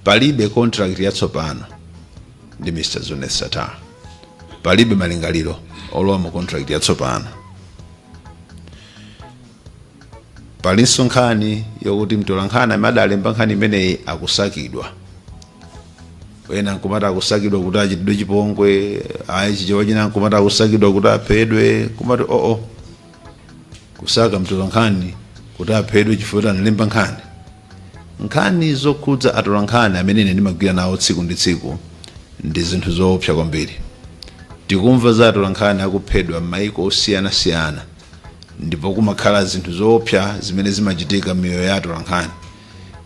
Palibe contract yatsopano ndi Mr Zuneth Sattar. Palibe malingaliro olowa mu contract yatsopano. Palinso nkhani yoti mtolankhani amene adalemba nkhani imeneyi akusakidwa. Ena nkumati akusakidwa kuti achitidwe chipongwe, ayi chichewa china nkumati akusakidwa kuti aphedwe, kumati oo. Kusaka mtolankhani kuti aphedwe chifukwa choti analemba nkhani. Nkhani zokhudza atolankhani amene ine ndimagwira nawo tsiku ndi tsiku ndi zinthu zoopsa kwambiri. Tikumva za atolankhani akuphedwa m'mayiko osiyanasiyana ndipo kumakhala zinthu zoopsa zimene zimachitika m'miyoyo ya atolankhani,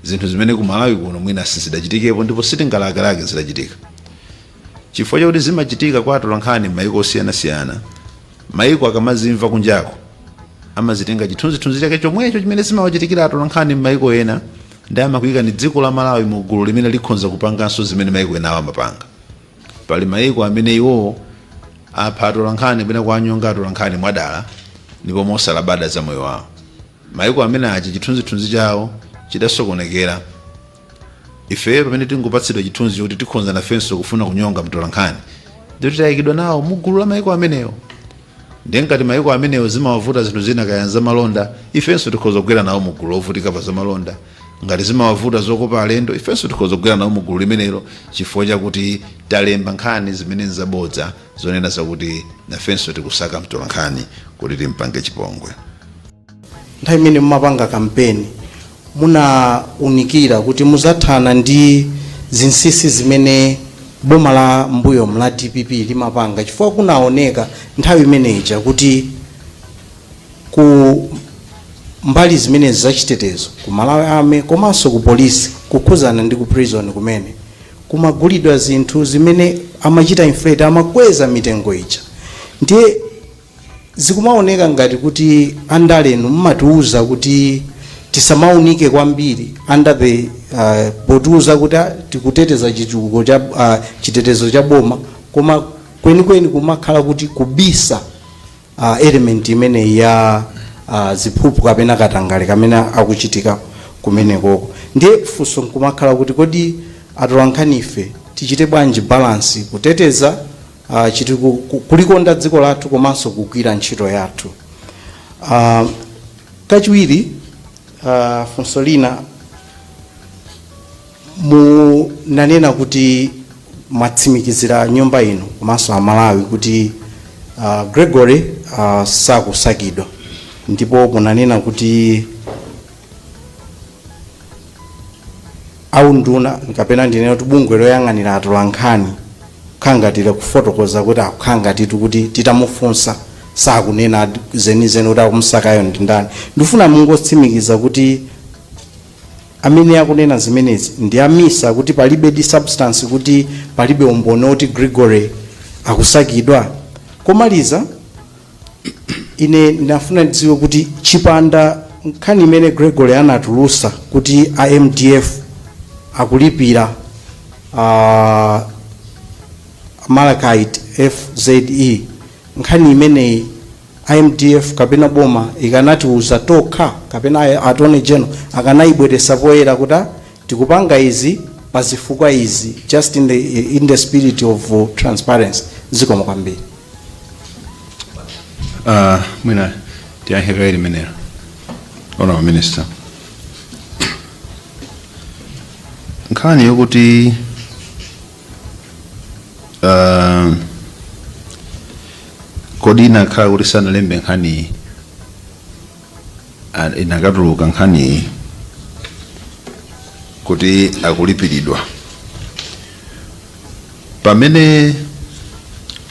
zinthu zimene ku Malawi kuno mwina sizidachitikepo ndipo sitingalakelake zitachitika. Chifukwa chakuti zimachitika kwa atolankhani m'mayiko osiyanasiyana, Maiko akamazimva kunjako, amazitenga chithunzithunzi chake chomwecho chimene zimawachitikira atolankhani mmaiko ena nde amakuikani dziko la Malawi mu gulu limene likhonza kupanganso zimene maiko enawo amapanga. Pali maiko amene iwowo apha atolankhani kapena kuwanyonga atolankhani mwadala ndipo mosalabada za moyo wawo. Maiko amene aja chithunzithunzi chawo chidasokonekera. Ifeyo pamene tingopatsidwa chithunzi chokuti tikhonza nafenso kufuna kunyonga mtolankhani ndiye kuti tayikidwa nawo mu gulu la maiko amenewo. Ndiye ngati maiko amenewo zimawavuta zinthu zina kaya nzamalonda, ifenso tikhoza kugwera nawo mu gulu lovutika pa zamalonda. Ngati zimawavuta zokopa alendo, ifenso tikhoza kugwera nawo mu gulu limenelo chifukwa chakuti talemba nkhani zimene nzabodza zonena zakuti nafenso tikusaka mtolankhani kuti timpange chipongwe. nthawi imene mumapanga kampeni munaunikira kuti muzathana ndi zinsisi zimene boma la mbuyomu la dpp limapanga chifukwa kunaoneka nthawi imeneja kuti ku mbali zimene zachitetezo ku malawi army komanso ku polisi kukhuzana ndi ku prison kumene kumagulidwa zinthu zimene amachita inflate amakweza mitengo ija ndiye Zikumaoneka ngati kuti andalenu mmatiuza kuti tisamaunike kwambiri under the potiuza kuti a tikuteteza chitukuko cha chitetezo cha boma koma kwenikweni kumakhala kuti kubisa element imeneyi ya ziphuphu kapena katangale amene akuchitika kumenekoko. Ndiye funso nkumakhala kuti kodi atolankhanife tichite bwanji balance kuteteza a chitukuko, kulikonda dziko lathu komanso kugwira ntchito yathu. a Kachiwiri, a funso lina munanena kuti mwatsimikizira nyumba ino komanso Amalawi kuti a Gregory a sakusakidwa ndipo munanena kuti a unduna kapena ndinene kuti bungwe loyang'anira atolankhani kukhala ngati likufotokoza kuti akukhala ngati tikuti titamufunsa sakunena zenizeni kuti akumusakayo ndi ndani ndifuna mungotsimikiza kuti amene akunena zimenezi ndi a MISA kuti palibe di substance kuti palibe umboni woti gregory akusakidwa komaliza ine ndinafuna ndidziwe kuti chipanda nkhani imene gregory anatulusa kuti a mdf akulipira uh, Malachite FZE nkhani imeneyi a mdf kapena boma ikanatiuza tokha kapena a- attorney general akanayibweresa poyera kuti ah, Tikupanga izi pa zifukwa izi just in the in the spirit of uh, transparency. Zikomo kwambiri. Uh, mwina tiyankhe kaye limenelo honorable minister nkhani yokuti uh, kodi inakhala kuti sanalembe nkhaniyi inakatuluka nkhaniyi kuti akulipiridwa pamene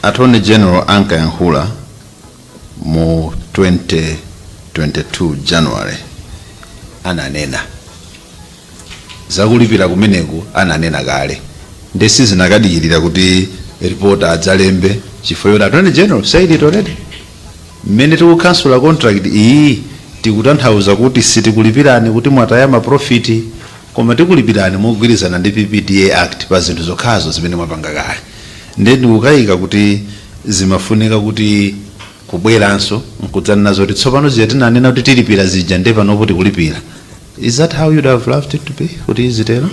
attorney general ankayankhula mu 2022 january ananena Zakulipira kumeneku ananena kale nde sizinakadikilira kuti reporter adzalembe chifukwa choti attorney general said it already. Mmene tikukhansula contract iyi tikutanthauza kuti sitikulipirani kuti mwataya ma profit koma tikulipirani mogwirizana ndi PPDA Act pa zinthu zokhazo zimene mwapanga kale. Nde ndikukaika kuti zimafunika kuti kubweranso nkudzanena zoti tsopano zija tinanena kuti tilipira zija nde panopo tikulipira. Is that how you'd have loved it to be? Kuti zitero?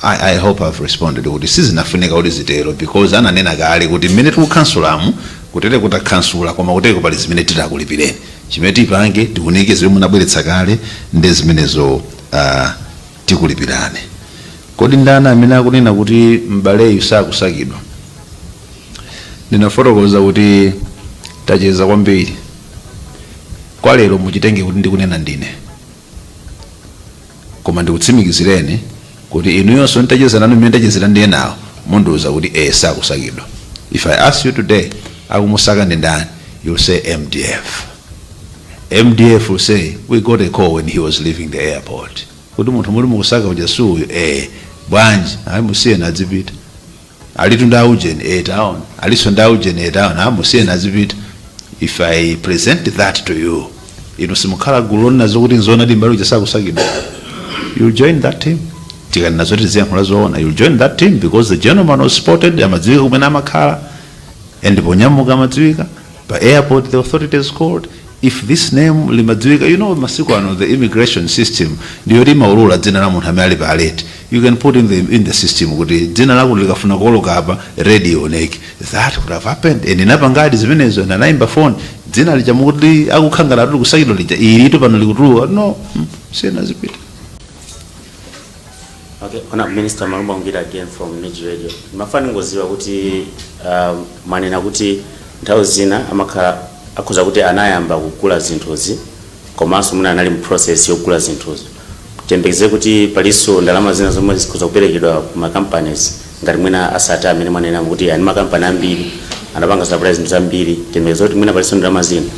I, I hope I've responded kuti sizinafunika kuti zitero because ananena kale kuti mmene tikukhansulamu kutere kutakhansula koma kuteko pali zimene titakulipireni chimene tipange tiunike zimene munabweretsa kale ndi zimenezo uh, tikulipirane kodi ndani amene akunena kuti m'baleyu sakusakidwa ndinafotokoza kuti tacheza kwambiri Kwa lero muchitenge kuti ndikunena ndine. Koma ndikutsimikizireni kuti inuyonso nditacheza nanu mmene ndachezera ndi enawa mundiuza kuti ee sakusakidwa. If I ask you today akumusaka ndi ndani you'll say mdf. Mdf will say we got a call when he was leaving the airport kuti munthu muli mukusaka uja si uyu ee bwanji ayi musiyeni azipita. alitu ndi aujeni eh town alinso ndi aujeni eh town ah, musiyeni azipita if i present that to you inu simukhala gulu lonena zokuti nzoona Mbali uja sakusakidwa you'll join that team tikanena zoti tiziyankhula zoona you'll join that team because the gentleman was spotted amadziwika kumene amakhala and ponyamuka amadziwika pa airport the authorities called if this name limadziwika you know masiku ano the immigration system ndiyoti imaulula dzina la munthu amene ali pa alert you can put in the, in the system kuti dzina lako likafuna kuoloka apa red ioneke that could have happened and inapangadi zimenezo nde anayimba phone dzina lija mukuti akukhala ngati likusakidwa lija ilitu pano likutuluka no mm, musiyeni azipita Okay, Honorable Minister Malumba Ngwira again from MIJ Radio. Mafuna ndingoziwa kuti um, mwanena kuti nthawi zina amakhala akhoza kuti anayamba kugula zinthuzi komanso mwina anali mu process yogula zinthuzo. Tiyembekeze kuti palinso ndalama zina zomwe zikhoza kuperekedwa ku ma companies ngati mwina a Sattar amene mwanena kuti ani ma company ambiri anapanga supply zinthu zambiri tiyembekeze kuti mwina palinso ndalama zina.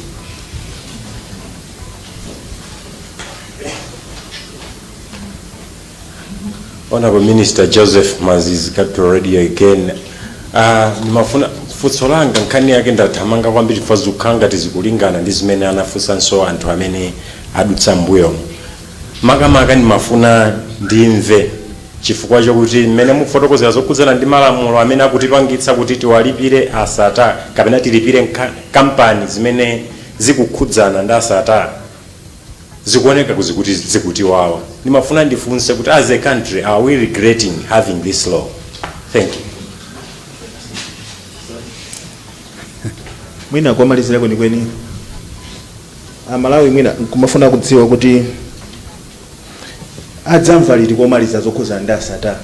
Honorable Minister Joseph Mazizi Capital Radio again. Ah, ndimafuna funso langa nkhani yake ndathamanga kwambiri chifukwa zikukhala ngati zikulingana ndi zimene anafunsanso anthu amene adutsa mbuyo. Makamaka ndimafuna ndimve chifukwa chokuti mmene mufotokozera zokhudzana ndi malamulo amene akutipangitsa kuti tiwalipire a Sattar kapena tilipire nka- kampani zimene zikukhudzana ndi a Sattar zikuoneka kuti zikuti zikutiwawa ndimafuna ndifunse kuti as a country are we regretting having this law thank you mwina komalizira kwenikweni amalawi mwina akumafuna kudziwa kuti adzamva liti komaliza zokhuza ndi a Sattar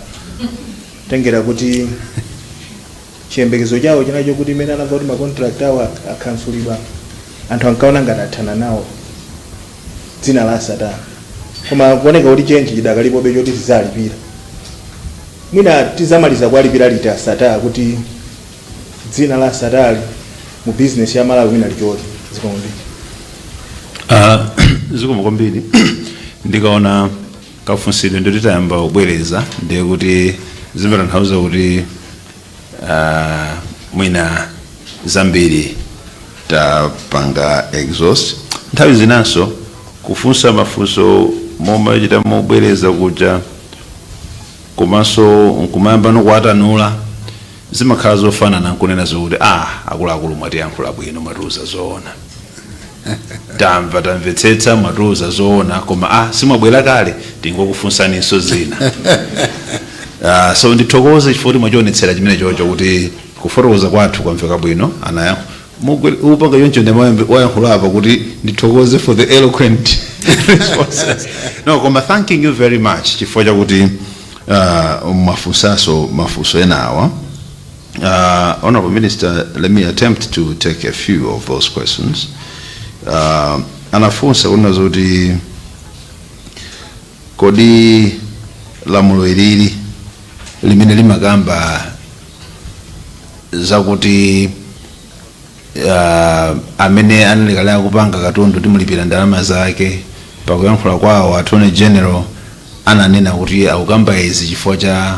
kutengera kuti chiyembekezo chawo chinali chokuti mmene anamva kuti ma contract awo ak- akhansulidwa anthu ankaona ngati athana nawo dzina la a Sattar koma zikuoneka kuti chenji chidakalipobe choti tizalipira mwina tizamaliza kuwalipira liti a Sattar kuti dzina la a Sattar mu bizinesi ya malawi mwina lichoke zikomo Ah, zikomo kwambiri ndikaona kafunsidwe ndikuti tayamba kubwereza ndiye kuti zimatanthauza kuti ah, mwina zambiri tapanga exhaust nthawi zinanso kufunsa mafunso momachita mobwereza kuja komanso nkumayamba kuwatanula zimakhala zofanana nkunena zokuti ah akuluakulu mwatiyankhula bwino mwatiuza zoona tamva tamvetsetsa mwatiuza zoona koma a simwabwera kale tingokufunsaninso zina Ah, so ndithokoze chifukwa kuti mwachionetsera chimene chocho kuti kufotokoza kwathu kwamveka bwino anayankho mukupanga choncho ndi mwayankhula apa kuti ndithokoze for the eloquent responses no koma thanking you very much chifukwa chakuti ah, mwafunsanso mafunso enawa Uh, Honorable Minister, let me attempt to take a few of those questions. Uh, anafunsa kunena zoti kodi lamulo ilili limene limakamba zakuti uh, amene anali kale akupanga katundu timulipira ndalama zake pakuyankhula kwawo attorney general ananena kuti akukamba izi chifukwa cha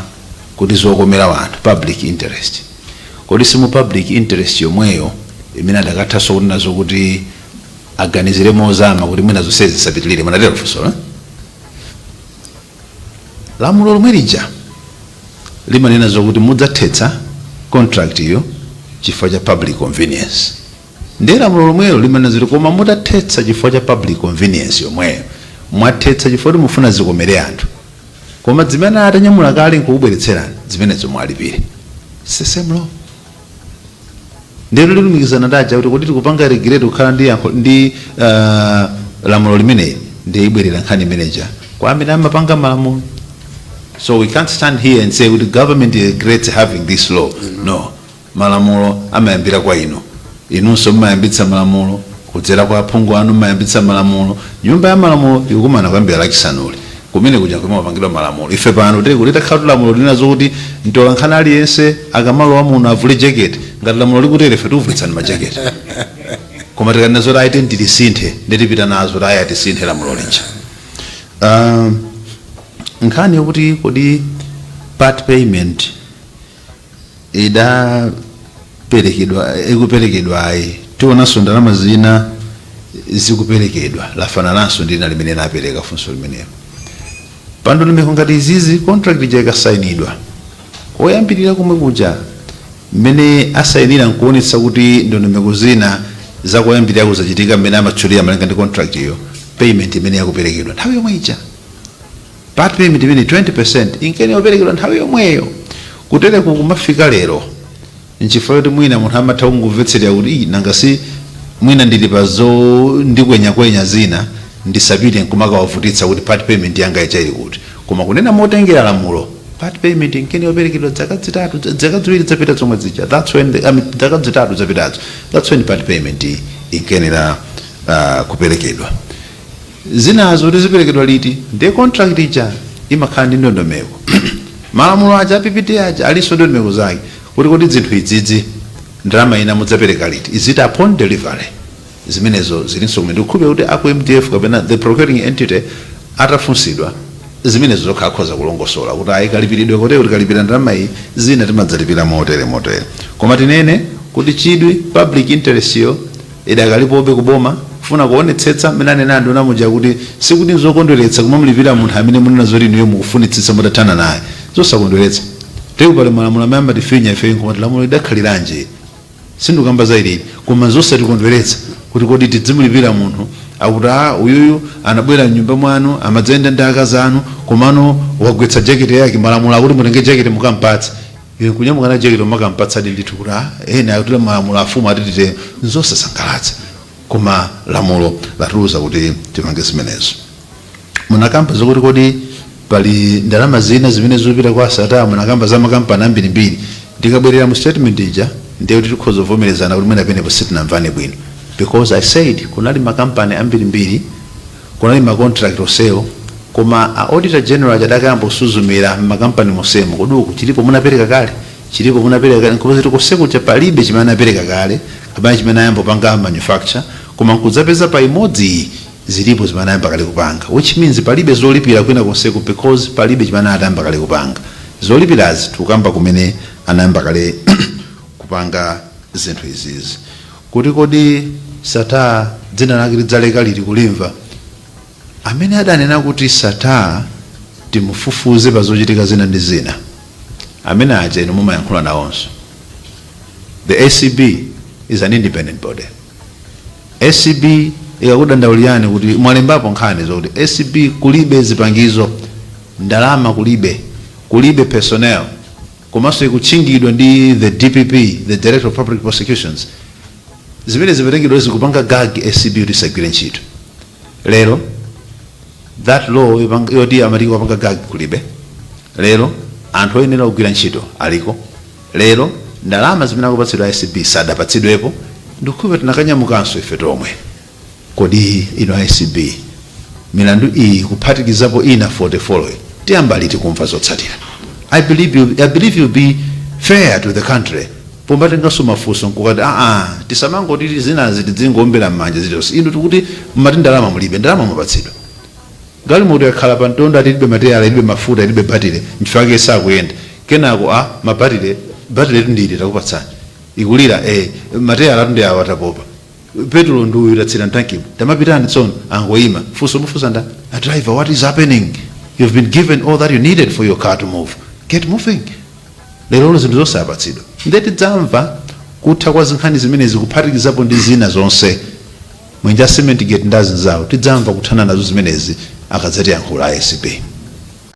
kuti zokomera wanthu public interest kodi simu public interest yomweyo imene adakathanso kunena zokuti aganizire mozama kuti mwina zonsezi zisapitirire munatero funso eh? Lamulo lomwe lija limanena zokuti mudzathetsa contract iyo chifukwa cha public convenience. Ndiye lamulo lomwelo limanena zoti koma mutathetsa chifukwa cha public convenience yomweyo mwathetsa chifukwa kuti mufuna zikomere anthu. Koma zimene atanyamuka kale nkukubweretserani zimenezo muwalipire. It's the same law. ndiye tilumikizana ndi ija kuti kodi tikupanga regret kukhala ndi yankho ndi ah, lamulo limeneli ndiye ibwerera nkhani imeneja kwa amene amapanga malamulo so we can't stand here and say kuti government regrets having this law no malamulo amayambira kwa inu inunso mmayambitsa malamulo kudzera kwa aphungu anu mmayambitsa malamulo nyumba ya malamulo ikukumana kuyambira lachisanuli Kumene kuja nkumene amapangidwa malamulo. Ife pano titati takhala ndi lamulo linena zokuti mtolankhani aliyense akamalowa muno avule jacket. Ngati lamulo likutero ife tikuvulitsani ma jacket. Koma tikanena zoti ayi tiyeni tilisinthe ndiye tipita nazo kuti ayi tisinthe lamulo lija. Ahm, nkhani yokuti kodi part payment, idaperekedwa ikuperekedwa ayi tionanso ndalama zina zikuperekedwa lafanananso ndi lina limene lapereka funso limenelo pandondomeko ngati izizi contract ija ikasainidwa koyambirira komwe kuja mmene asayinira nkuonetsa kuti ndondomeko zina zakoyambirira kuzachitika mmene amatchulira malinga ndi contract iyo payment imene yakuperekedwa nthawi yomwe ija Part payment imene 20% inkayenera kuperekedwa nthawi yomweyo. Kutereku kumafika lero nchifukwa choti mwina munthu amatha kungomvetserera kuti ii nanga si mwina ndili pa zo ndikwenyakwenya zina ndisapite nkumakawavutitsa kuti part payment yanga ija ili kuti. Koma kunena motengera lamulo, part payment inkayenera kuperekedwa dzaka dzitatu dzaka dziwiri dzapita zomwe zija that's when the I mean dzaka dzitatu zapitazo that's when part payment inkayenera kuperekedwa. Zinazo kuti ziperekedwa liti ndiye contract ija imakhala ndi ndondomeko. Malamulo aja a PPDA aja alinso ndi ndondomeko zake kuti kodi zinthu izizi ndalama ina mudzapereka liti, is it upon delivery? Zimenezo zilinso kumene. Ndikukhulupirira kuti aku mdf kapena the procuring entity atafunsidwa zimenezo zokha akhoza kulongosola kuti ayi kalipiridwe kotereku tikalipira ndalama iyi, zina timadzalipira motere motere. Koma tinene kuti chidwi, public interest yo, idakalipobe ku boma. Kufuna kuonetsetsa mmene anenera anduna muja kuti sikuti n'zokondweretsa kumamulipira munthu amene mukunena zoti inuyo mukufunitsitsa mutathana naye. N'zosakondweretsa. Ndiye pali malamulo amene amatifinya ifeyo n'kumati lamulo lidakhaliranji ili? Sindikukamba za ilili. Koma n'zosatikondweretsa kuti kodi tidzimulipira munthu akuti a uyuyu anabwera m'nyumba mwanu, amadzayenda ndi akazi anu, komano wagwetsa jekete yake, malamulo akuti mutenge jekete mukam'patse. Iwe kunyamuka na jekete kukampatsadi ndithu kuti ah ena akuti malamulo afumu atitite nzosasangalatsa koma lamulo latiuza kuti tipange zimenezo. Munakamba zokuti kodi pali ndalama zina zimene zikupita kwa Sattar munakamba za makampani ambirimbiri ndikabwerera mu statement ija ndiye kuti tikhoza kuvomerezana kuti mwina penepo sitinamvane bwino because I said kunali makampani ambirimbiri Kunali ma contract onsewo koma a auditor general aja adakayamba kusuzumira m'makampani monsemu kodi uku chilipo munapereka kale? Chilipo munapereka kale? Nkupeza kuti konse kuja palibe chimene anapereka kale kapena chimene anayamba kupanga manufacture koma nkudzapeza pa imodzi iyi zilipo zimene anayamba kale kupanga which means palibe zolipira kwina konseku because palibe chimene anali atayamba kale kupanga. Zolipirazi tikukamba kumene anayamba kale kupanga zinthu izizi. Kuti kodi Sattar dzina lake tidzaleka liti kulimva? Amene adanena kuti Sattar timufufuze pa zochitika zina ndi zina, amene aja inu mumayankhula nawonso. The acb is an independent body. Acb inkakudandaulirani kuti mwalembapo nkhani zokuti acb kulibe zipangizo, ndalama kulibe, kulibe personnel. komanso ikutchingidwa ndi the dpp the director of public prosecutions zimene zimatengedwa zikupanga gag acb kuti isagwire ntchito lero that law yopanga- yoti amati ikupanga gag kulibe lero anthu oyenera kugwira ntchito aliko lero ndalama zimene akupatsidwa acb sadapatsidwepo ndikukhulupirira tinakanyamukanso ife tomwe Kodi inu a acb milandu iyi kuphatikizapo ina 40 following tiyamba liti kumva zotsatira? I believe I believe you'll be fair to the country pomatenganso mafunso nkukati aah tisamangoti zinazi tizingoombera mmanja zilizonse inu tikuti mmati ndalama mulibe ndalama mwapatsidwa. Galimoto yakhala pa mtondo ati ilibe mateyala ilibe mafuta ilibe batile nchifukwa chake sakuyenda kenako amvekere batile batiletu ndi ili takupatsani ikulira ee mateyalatu ndi awa tapopa. Petulo ndi uyu tatsira mtankimu. Tamapitani tsono. Angoima. Funso lomufunsa nda driver what is happening? You've been given all that you needed for your car to move. Get moving. Lerolo zinthu zonse apatsidwa. Nde tidzamva kutha kwa zinkhani zimenezi kuphatikizapo ndi zina zonse. Mwenje a Cement Gate ndi azinzawo tidzamva kuthana nazo zimenezi akadzatiyankhula a acb.